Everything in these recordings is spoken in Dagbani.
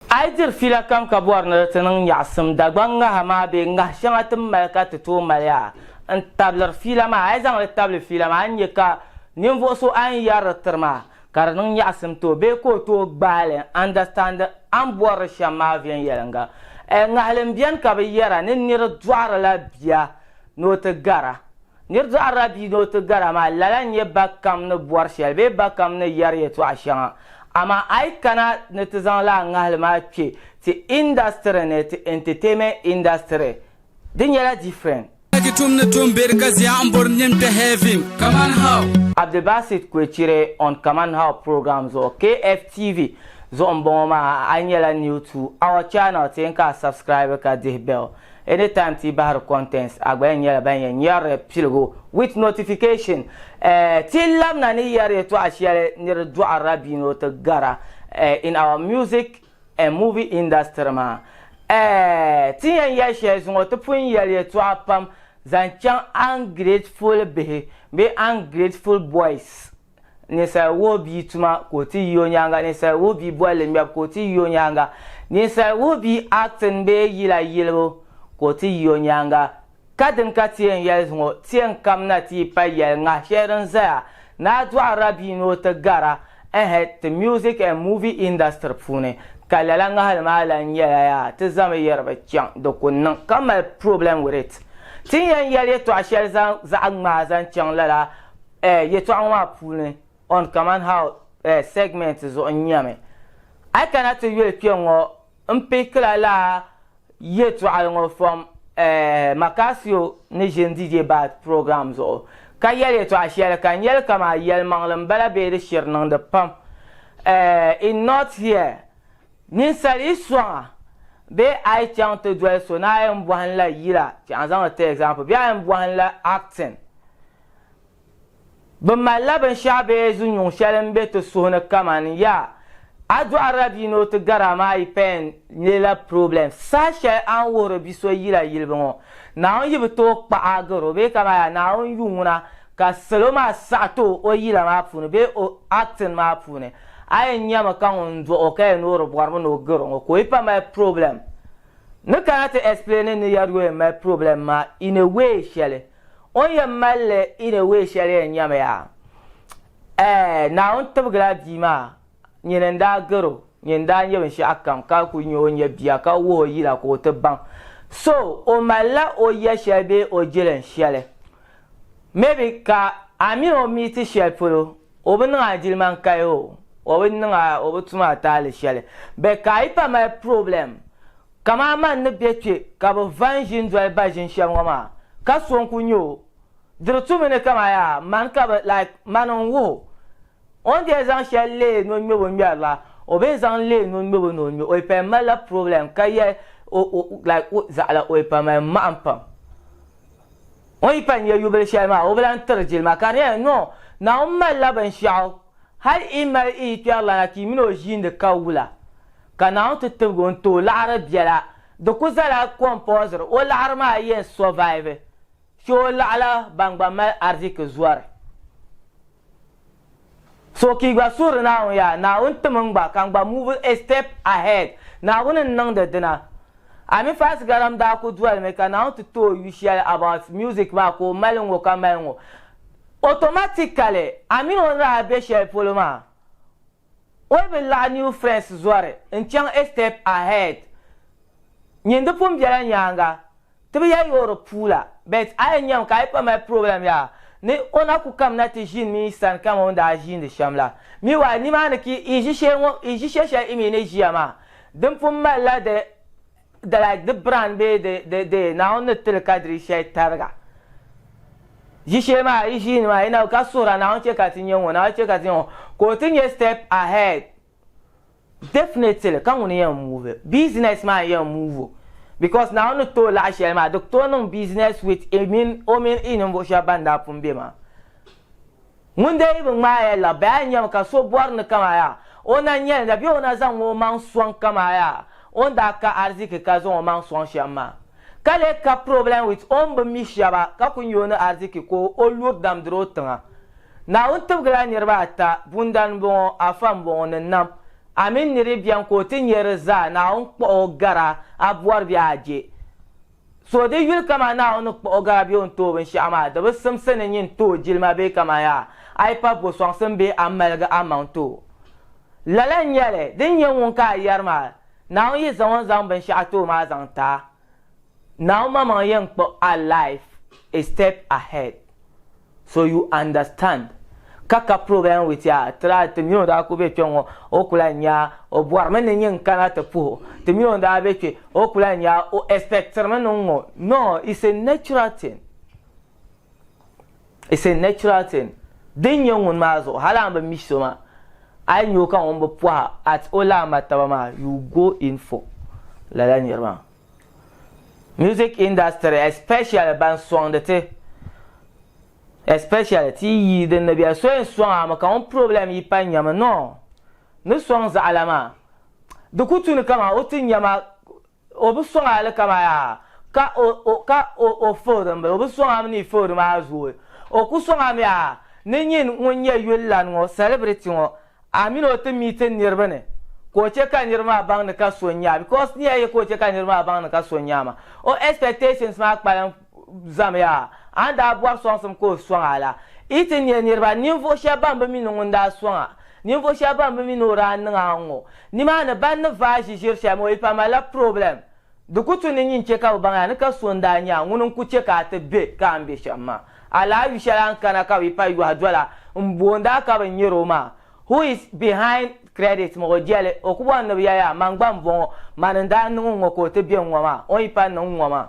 A yi diri fiila kam ka bɔri ni di ti niŋ nyaɣisim Dagbaŋ ŋaha maa bee ŋah shɛŋa ti ni mali ka ti tooi mali ya n-tabiliri fiila maa, a yi zaŋ li tabili fiila maa, a ni nya ka ninvuɣ so a ni yɛri di tiri maa ka di niŋ nyaɣisim ti o bee ka o tooi gbaai li n-andastandi a ni bɔri li shɛm maa viɛnyɛliŋga. Ŋahili m-beni ka bɛ yɛra ni nir dɔɣiri la bia ni o ti gar a. Nir dɔɣirila bia ni o ti gar a maa, lala n-nyɛ ba kam ni bɔri shɛli bee ba kam ni yɛri yɛtɔɣ shɛŋa. Amaa a yi kana ni ti zaŋ lala ŋahili maa kpe ti industry ni, ti entertainment industry, di nyɛla different. Ki tum ni tum beri ka zia n bori nin kpe heavim kaman how. Abdulbasit Kwecire on Kaman How program zuɣu, KFTV, zuɣu m-bɔŋɔ maa. A nyɛla new to our channel, ti yɛn ka a subscribe ka dihi bell. Anytime ti yi bahiri contents a gba yɛn nyɛla ban yɛn nyɛrili piligu with notification. Ti labina ni yɛri yɛtɔɣa shɛli ni di dɔɣirila bia ni o ti gara in our music and movie industry maa. Ti ni yɛn yɛli shɛli zuŋɔ ti pun yɛli yɛtɔɣa pam zaŋ chaŋ ungrateful bihi bee ungrateful boys. Ninsal wuhi bia tuma ka o ti yi o nyaaŋa Ninsal wuhi bia bolli ŋmɛbu ka o ti yi o nyaaŋa Ninsal wuhi bia acting bee yila yilibu ka o ti yi o nyaaŋa Kadini ka ti yɛn yɛli ŋɔ ti yɛn kamina ti yi pali yɛli ŋahi shɛli din zaya ni a dɔɣirila bia ni o ti gara ɛhɛ ti music and movie industry puuni ka lala ŋahili maa lan nyɛla yaa ti zami yɛri bi chaŋ di ku niŋ ka mali problem with it Ti ni yɛn yɛli yɛtɔɣ shɛli zaŋ zaɣ ŋmahi zaŋ chaŋ lala eh, yɛtɔɣa ŋɔ maa puuni on kaman how eh, segment zuɣu n nyami. A yi kana ti yuli kpe ŋɔ n pickila la yɛtɔɣali ŋɔ from eh, Macasio ni ʒini DJ Bad program zuɣu ka yɛli yɛtɔɣa shɛli ka n yɛli kamaa yɛlimaŋli n bala bee di shiri niŋdi pam eh, in not here Ninsal yi sɔŋa bee a yi chaŋ ti doli so ni a yɛn bɔhi n la yila, chaŋ zaŋdi ti example, bee a yɛn bɔhi n la acting Bɛ malila binshɛɣu bee zunyuŋ shɛli m-be ti suhu ni kamani, ya, a dɔɣirila bia ni o ti gari a maa yi paya n-leei la problem. Saha shɛli a ni wuhiri bi so yila yilibu ŋɔ, Naawuni yi bi tooi kpaɣi a gari o bee kamani ya Naawuni yuŋ ŋuna ka salo maa saɣi ti o o yila maa puuni bee o acting maa puuni, a yɛn nyami ka ŋun n-dɔɣi o ka yɛn noori bɔribu ni o gari o ŋɔ ka o yi pa mali problem. Ni kana ti explain ni ya di o yɛn mali problem maa in a way shɛli. O ni yɛn mali li in a way shɛli yɛn nyami yaa. Ɛɛh, Naawuni tibigila bia maa nyini n-daa gari o, nyini daa nyɛ binshɛɣu kam ka kuli nyɛ o ni nyɛ bia ka wuhi o yila ka o ti baŋ. So, o malila o ya shɛli bee o jilin shɛli. Maybe ka a mini o meeti shɛli polo O bi niŋ a jilima n kaya o, o bi niŋ a, o bi tum a taali shɛli. Bɛ ka a yi pa mali problem, kaman a ma n ni be kpe ka bɛ va n ʒi n doli ba ʒini shɛm ŋɔ maa, ka so n ku nya o, di di tumi ni kaman yaa man ka bɛ, like, man n wuh o. O ni daa zaŋ shɛli leei ni o ŋmɛbo ŋmɛri la, o bee zaŋ leei ni o ŋmɛbo ni o ŋmɛ, o yi paya mali la problem ka yɛli o, o, like, o zaɣila o yi pa mali mahim pam. O yi pani nya yubili shɛli maa, o bi lan tiri jilima. Ka di nyɛla, nɔ, Naawuni malila binshɛɣu, hal i mali i yikpɛrilana ka yi mini o ʒiindi ka wula. Ka Naawuni ti tibigi o n-ti o laɣiri biɛla. Di ku zala compulsory o laɣiri maa yɛn survive, chɛ o laɣila ban gba mali ariziki zɔri. So ka yi gba suhiri Naawuni yaa, Naawuni tim n gba ka n gba move a step ahead. Naawuni n niŋdi dina. Ami Faasi Garam daa ku dolimi ka Naawuni ti ti o yu shɛli about music maa ka o mali ŋɔ ka mali ŋɔ. Automatically, a mini o ni daa be shɛli polo maa, O bi laɣi New Friends zɔri n-chaŋ A Step Ahead. Nyin di pun bela nyaaŋa, ti bi yɛli o di puu la, but a yɛn nyami ka a yi pa mali problem yaa ni o na ku kamina ti ʒini mi yi sani kaman o ni daa ʒiindi shɛm la. Meanwhile, nimaani ka i ʒi shee ŋɔ, i ʒi she shɛli i mi ni ʒiya maa. Din pun malila di. The like the brand bee the the the Naawuni ni tili kadiri shɛli tariga ʒi shee maa yi ʒiini maa yi na ka suhira Naawuni chɛ ka ti nya ŋɔ Naawuni chɛ ka ti nya ŋɔ ka o ti nyɛ step ahead definitely ka ŋuni yɛn move business maa n yɛn move o because Naawuni ni tooi laɣi shɛli maa di ku tooi niŋ business with i mini o mini i ninvuɣu shɛba ban daa pun be maa. Ŋun dee yi bi ŋmaai ya la, bɛ a ni nyami ka so bɔri ni kama ya o na nyɛlinda bee o na zaŋ o maŋ sɔŋ kama ya o ni daa ka ariziki ka zaŋ o maŋ sɔŋ shɛm maa, ka lee ka problem with o ni bi mi shɛba ka ku nya o ni ariziki ka o luri dam diri o tiŋa. Naawuni tibigila niriba ata, Bundali m-bɔŋɔ, Afa m-bɔŋɔ ni Nam. Amin niribi beni ka o ti nya di zaa, Naawuni kpuɣi o gara a bɔri bee a je. So di yuli kaman Naawuni ni kpuɣi o gara bee o ni tooi binshɛɣu maa, di bi simsi ni nyin tooi jilima bee kaman yaa a yi pa bo sɔŋsim bee a maligi a maŋ ti o. Lala n-nyɛ li, di ni nyɛ ŋun ka a yɛri maa, Naawuni yi zaŋ o ni zaŋ binshɛɣu ti o maa zaŋ ti a, Naawuni maŋmaŋ yɛn kpuɣi a life a step ahead. So you understand ka ka program with ya try ti mini o daa kuli be kpe ŋɔ o kuli lan nya o bɔri mi ni nyɛ n kana ti puhi o ti mini o daa be kpe o kuli lan nya o expectiri mi ni n ŋɔ no it's a natural thing it's a natural thing din nyɛ ŋun maa zuɣu hali a ni bi mi so maa a yi nya o ka ŋun bi pɔhi at o lahi ma taba maa you go in for lala niri maa. Music industry especially ban soŋdi ti especially ti yi yi din ni bɛ so yɛn soŋ a mi ka ŋun problem yi pa nyami no ni soŋ zaɣila maa di ku tu ni kaman o ti nyama o bi soŋ a li kaman yaa ka o o ka o o fihiri m bili o bi soŋ a mi ni fihiri maa zooi o ku soŋ a mi yaa ni nyin ŋun nyɛ yuli lan ŋɔ celebrity ŋɔ A mini o ti meet n niriba ni ka o che ka niriba maa baŋ ni ka so n nya because ni ya ye ka o che ka niriba maa baŋ ni ka so n nya ma o expectations maa kpalim zam ya a ni daa bɔri sɔŋsim ka o sɔŋ a la i ti nya niriba ninvuɣu shɛba ban bi mi ni ŋun daa sɔŋ a ninvuɣu shɛba ban bi mi ni o daa niŋ a ŋɔ nimaani ban ni vaai ʒiʒiri shɛli maa o yi pa malila problem Di ku tu ni nyin chɛ ka bɛ baŋ ya ni ka so n-daa nyɛ a ŋuni n-ku chɛ ka a ti be ka a ni be shɛm maa. A lahi yu shɛli a ni kana ka bɛ pa yɔhi doli a m-boond a ka bɛ nyari o maa. Who is behind credit ŋɔ jɛli o ku bɔri ni bɛ ya ya man gba m-bɔŋɔ, man n-daa niŋ n ŋɔ ka o ti be n ŋɔ maa, o yi pa niŋ n ŋɔ maa.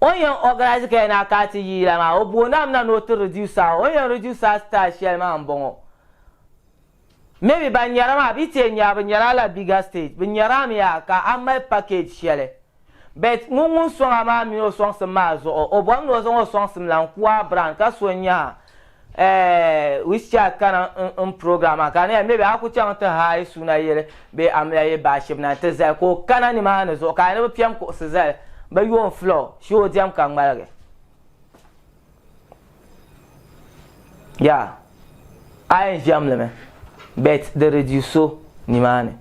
O yɛn organise ka yɛn na ka ti yi yila maa o booni a mi na ni o ti reduce a o yɛn reduce a style shɛli maa n bɔŋɔ maybe ban nyara maa bi tiɛ nyara bi nyara la bigger stage bi nyara a mi ya ka a mali package shɛli but ŋun ŋun sɔŋ a maa mini o sɔŋsim maa zuɣu o bɔri mi ni o zaŋ o sɔŋsim la n ku a brand ka so n nya a Eh, which child ka na n n program maa ka ne maybe a ku chaŋ ti haai suna yili bee a mila yi baashib na nti zali ka o kana nimaani zuɣu ka a ni bi piɛm kuɣusi zali bi yuun fila o shi o diɛm ka ŋmaligi yeah a yɛn ʒiɛm limi but di reduce o nimaani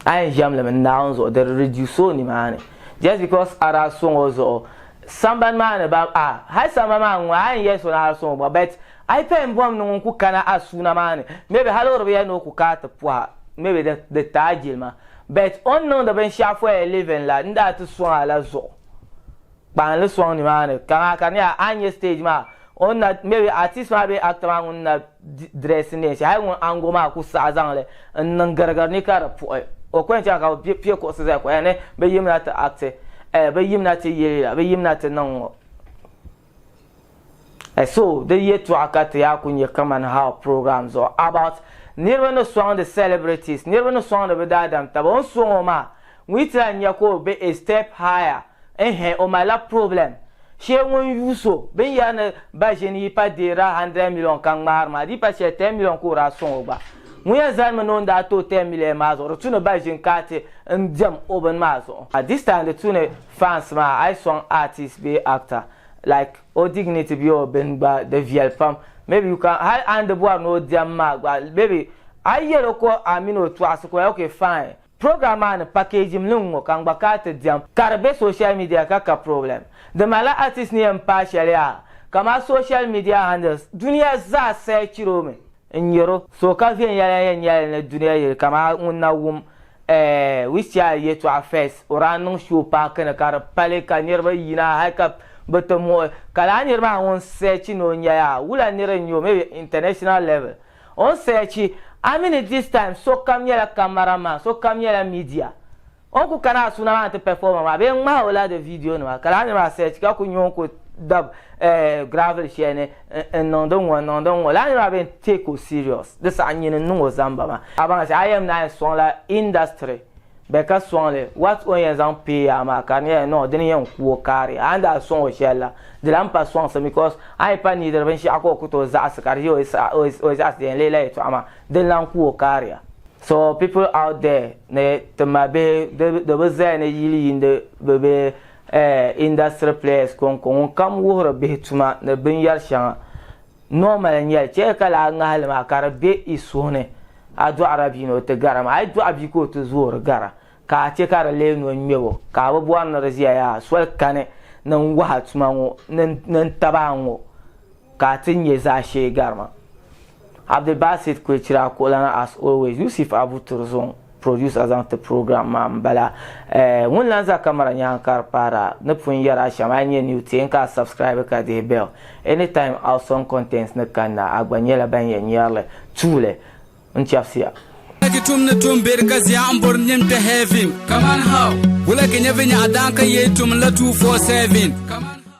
a yɛn ʒɛmi limi Naawuni zuɣu di reduce o nimaani just because a daa sɔŋ o zuɣu sambani maa ni ba a hali samba maa ŋun a yɛn yɛli so ni a sɔŋ o gba but a yi payɛn bɔm ni ŋun ku kana a suuna maa ni maybe hali o di bi yɛli ni o ku kana ti pɔha maybe di di ti a jilima but o ni niŋdi binshɛɣu for a living la n daa ti sɔŋ a la zuɣu kpahinli sɔŋ ni maa ni ka maa ka di nyɛla a ni nyɛ stage maa o ni na maybe artist maa bee actor maa ŋun na dress neen shɛli hali ŋun ango maa ku saɣi zaŋli n niŋ girigiri ni ka di puɣi o ko yɛn chaŋ ka bi piɛ kuɣusi zali ka o yɛli ni bi yimina ti acti eh bi yimina ti yeli la bi yimina ti niŋ ŋɔ. Eh so di yɛtɔɣa ka ti yaa ku nyɛ kamani how program zuɣu about niriba ni sɔŋdi celebrities niriba ni sɔŋdi bi daadam taba o ni sɔŋ o maa ŋun yi ti lahi nya ka o be a step higher eh-heh o malila problem shee ŋun yuui so binyɛri ni ba ʒini yi pa deei daa hundred million ka ŋmaari maa di yi pa shɛli ten million ka o daa sɔŋ o gba ŋun yɛn zalimi ni o ni daa ti o ten million maa zuɣu di tu ni ba ʒini ka a ti n diɛm o bini maa zuɣu this time di tu ni fans maa a yi sɔŋ artist bee actor Like o dignity bee o bini gba di viɛli pam maybe you can hali a ni di bɔri ni o diɛm maa gba maybe a yi yɛli o ka a mini o tɔɣisi ka o yɛli ok fine program maa ni package mi li n ŋɔ ka n gba ka ti diɛm ka di be social media ka ka problem di mali la artist ni yɛn paai shɛli yaa ka ma social media handles duniya zaa searchiri o mi n-nyar o. So ka viɛnyɛla yɛn nyɛla li ni dunia yili kamaa ŋun na wum Wisia yɛtɔɣa Fes, o daa niŋ show paaki ni ka di pali ka niriba yina hali ka bɛ ti muɣi o. Ka lala nir maa ŋun searchi ni o nya yaa, wula nir n-nyɛ o, maybe international level o ni searchi. A mi ni this time sokam nyɛla camera man, sokam nyɛla media. O ni ku kana a suuna maa ni ti performer maa bee ŋmahi o ladi video nima ka laa niriba a search ka ku nya o ni ku dab gravel sheli ni n niŋdi n ŋɔ n niŋdi n ŋɔ laa niriba a bee take o serious di saha nyini n niŋ o zamba maa. A baŋ sheli a yɛn naa yɛn soŋ la industry bɛ ka soŋ li what o ni yɛn zaŋ pay yaa maa ka di nyɛla no dini yɛn ku o kaaria a ni daa soŋ o sheli la di lan pa soŋsim because a yi pa neediri binshɛɣu ka o ku tooi zaɣisi ka di ʒe o yi zaɣisi di yɛn leei la yɛltɔɣa maa Din lan ku o kariya. So people out there ni ti ma bihi di bi zaya ni yili yiindi bi be eh industry players konko ŋun kam wuhiri bihi tuma ni bin yari shɛŋa normal n nyɛli chɛ ka laa ŋahi li maa ka di be i suhu ni a dɔɣira bia ni o ti gara maa a yi dɔɣi bia ka o ti zoori gara ka a chɛ ka di lee ni o ŋmɛb o ka a bi bɔri ni di ziya yaa soli kani ni n wahi a tuma ŋɔ ni n taba a ŋɔ Ka a ti nyɛ zaashee garima. Abdulbasit Kwechira Kuɣulana As always, Yusuf Abu Turzong produced a zaŋ ti program maa m-bala. Eh, ŋun lan za camera nyaaŋa ka di paara ni pun yɛri a shɛm, a yi nyɛ new teei n ka a subscribe ka dihi bell. Anytime awesome contents ni kanna, a gba nyɛla ban yɛn nyɛri li. Tuuli, n chɛbisiya. Wulagi tum ni tum beri ka zia n bori nim kpe heaven. Kaman how? Wulagi nyɛ vinyɛɣu daan ka yee tum n la 247. Kaman how?